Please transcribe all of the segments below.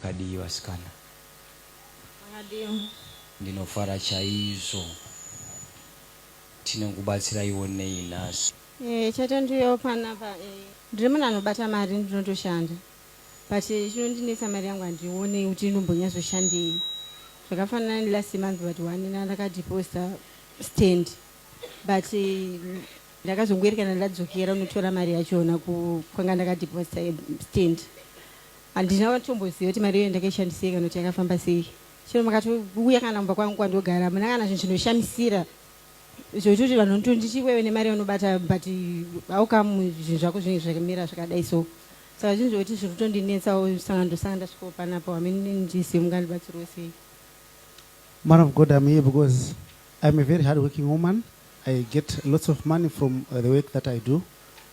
Makadii vasikana? Makadii? Ndinofara chaizvo. Tinokubatsiraiwo nei nhasi? Eh, chete ndiuyewo panapa. Eh, ndiri munhu anobata mari ndinotoshanda. But chinondinetsa mari yangu handione kuti inombonyazoshandei. Zvakafanana nelast month but one na ndakadeposta stand. But eh, ndakazongoerekana ndadzokera unotora mari yachona ku kwanga ndakadeposta stand. Handina kutomboziva kuti mari iyoyo ndakaishandisei kana kuti yakafamba sei. Chero makatouya kana kumba kwangu kwandogara hamuna kana zvinhu zvinoshamisira zvoitoti vanhu vanotonditi iwewe nemari yaunobata but how come zvinhu zvako zvinenge zvakamira zvakadai so saka zvinhu zvokuti zviri kutondinetsawo saka ndosanga ndasvikawo panapo hamene ndizive mungandibatsiriwo sei Man of God, I'm here because I'm a very hardworking woman. I get lots of money from uh, the work that I do.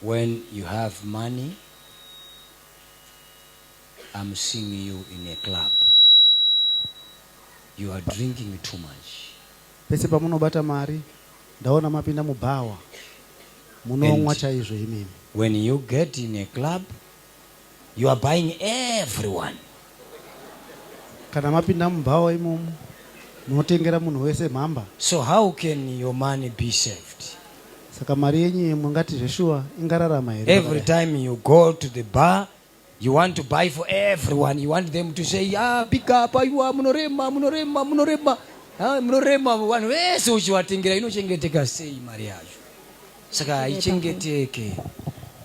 When you have money I'm seeing you in a club you are drinking too much. Pese pamunobata mari ndaona mapinda mubhawa munomwa chaizvo imimi. When you get in a club You are buying everyone. Kana mapinda mubhawa imomo munotengera munhu wese mhamba. So how can your money be saved? Saka mari yenyu yemwe ngati zveshuwa ingararama here? Every time you go to the bar you want to buy for everyone you want them to say ah big up aiwa munorema munorema munorema ah, munorema vanhu vese uchivatengera inochengeteka sei mari yacho? saka haichengeteke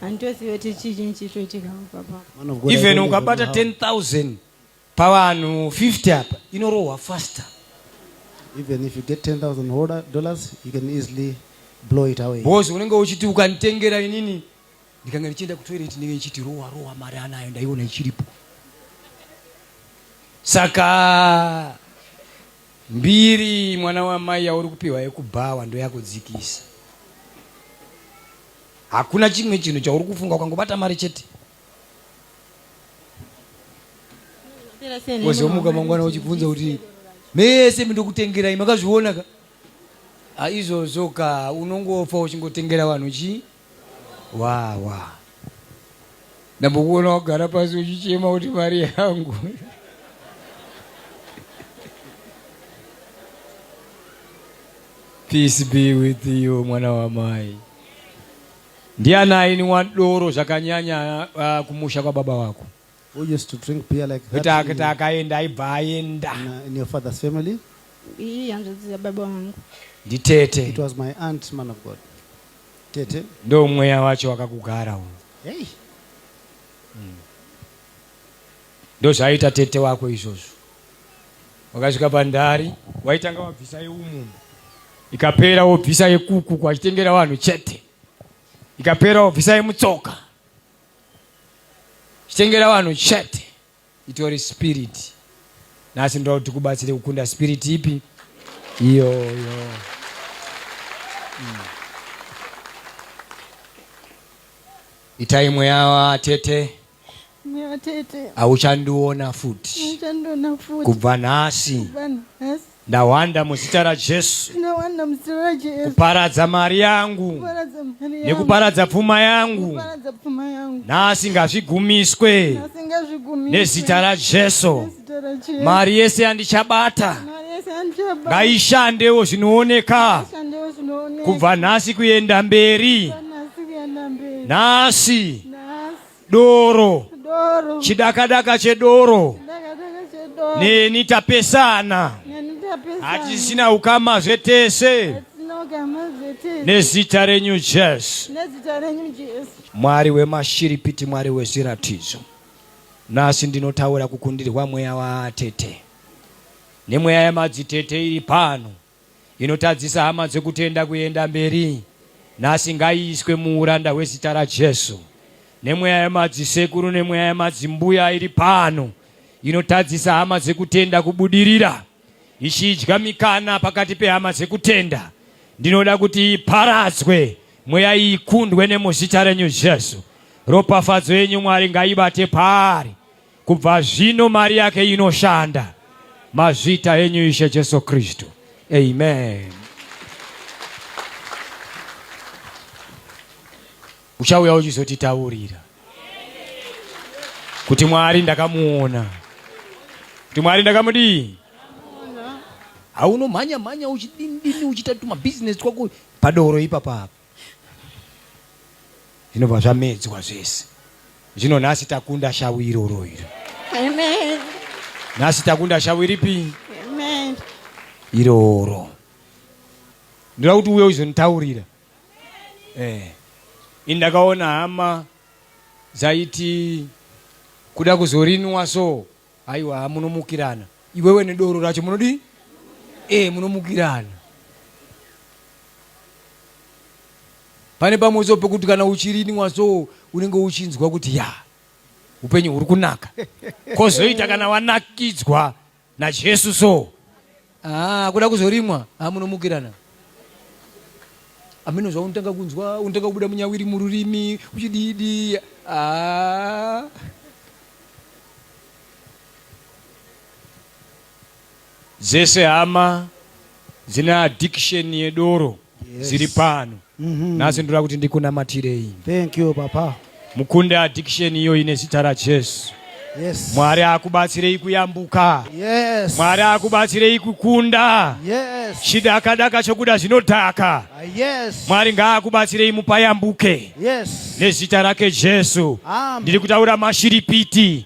handitozive kuti chii chinyi chiri kuitika papa Man of God, I even don't even ukabata know how. 10000 pavanhu 50 apa inorohwa faster Even if you get 10,000 holder- dollars, you can easily blow it away. bhozi unenge uchiti ukanditengera inini ndikanga ndichienda kutoilet ndinenge ndichiti rowa rowa mari anayo ndaiona ichiripo saka Mbiri mwana wamai yauri kupiwa yekubhawa ndoyakudzikisa. Hakuna chimwe chinhu chauri kufunga ukangobata mari chete. Wozomuka mangwana uchibvunza kuti mese ndokutengerai makazviona ka? Aizvozvo ka unongofa uchingotengera vanhu chii? Waa waa ndambokuona wagara pasi uchichema kuti mari yangu peace be with you mwana wamai ndiani aini wadoro zvakanyanya uh, kumusha kwababa wako Who used to drink beer like that? Kuti kuti akaenda aibva aenda. In, uh, in your father's family? Iyi hanzvadzi yababa vangu. Nditete. It was my aunt, man of God. Tete. Ndo mweya wacho wakakugara uyu. Hey. Mm. Ndozvaita tete wako izvozvo. Wakasvika pandari, waitanga wabvisa yeumumba. Ikapera wobvisa yekuku kwachitengera vanhu chete. Ikapera wobvisa yemutsoka. chitengera vanhu chete itori spirit nhasi ndoda kuti kubatsire kukunda spirit ipi iyoyo hmm. itai mweya watete hauchandiona futi kubva nhasi Ndawanda muzita raJesu. Ndawanda muzita raJesu. Kuparadza mari yangu. Kuparadza mari yangu. Nekuparadza pfuma yangu. Kuparadza pfuma yangu. Nhasi ngazvigumiswe. Nhasi ngazvigumiswe. Nezita raJesu. Nezita raJesu. Mari yese yandichabata. Mari yese yandichabata. Ngaishandewo zvinooneka. Ngaishandewo zvinooneka. Kubva nhasi kuenda mberi. Kubva nhasi kuenda mberi. Nhasi. doro chidakadaka chedoro neni tapesana hatisina ukama zvetese nezita renyu jesu mwari wemashiripiti mwari wezviratidzo nhasi ndinotaura kukundirwa mweya waatete nemweya yamadzitete iri pano inotadzisa hama dzekutenda kuenda mberi nhasi ngaiiswe muuranda hwezita raJesu. Nemweya yemadzisekuru nemweya yemadzimbuya iri pano inotadzisa hama dzekutenda kubudirira, ichidya mikana pakati pehama dzekutenda, ndinoda kuti iparadzwe mweya iyi ikundwe nemuzita renyu Jesu. Ropafadzo yenyu Mwari ngaibate paari. Kubva zvino mari yake inoshanda. Mazvita enyu Ishe Jesu Kristu. Amen. Uchauya uchizotitaurira kuti Mwari ndakamuona, kuti Mwari ndakamudii. Haunomhanya mhanya uchidini dini uchiita tumabhizinesi twako padoro ipapa apa zvinobva zvamedzwa zvese zvino nhasi takunda shavu iroro iro Amen. nhasi takunda shavu iripi Amen. iroro ndoda kuti uye uzonitaurira eh. ini ndakaona hama dzaiti kuda kuzorinwa so Aiwa munomukirana iwewe nedoro racho munodii? Eh munomukirana. Pane pamwe so pekuti kana uchirinwa so unenge uchinzwa kuti ya upenyu huri kunaka. Kozoita kana wanakidzwa naJesu so Haa kuda kuzorimwa haa munomukirana ameno zvavo unotanga kunzwa unotanga kubuda munyawiri mururimi uchididi haa dzese hama dzine addiction yedoro yes. ziri pano mm -hmm. nhasi ndoda kuti ndikunamatirei thank you papa mukunde addiction iyo ine zita rajesu Yes. Mwari akubatsirei kuyambuka. Yes. Mwari akubatsirei kukunda. Yes. Chidaka daka chokuda zvinodhaka. Uh, yes. Mwari ngaakubatsirei mupayambuke. Yes. Nezita rake Jesu. Ndiri kutaura mashiripiti.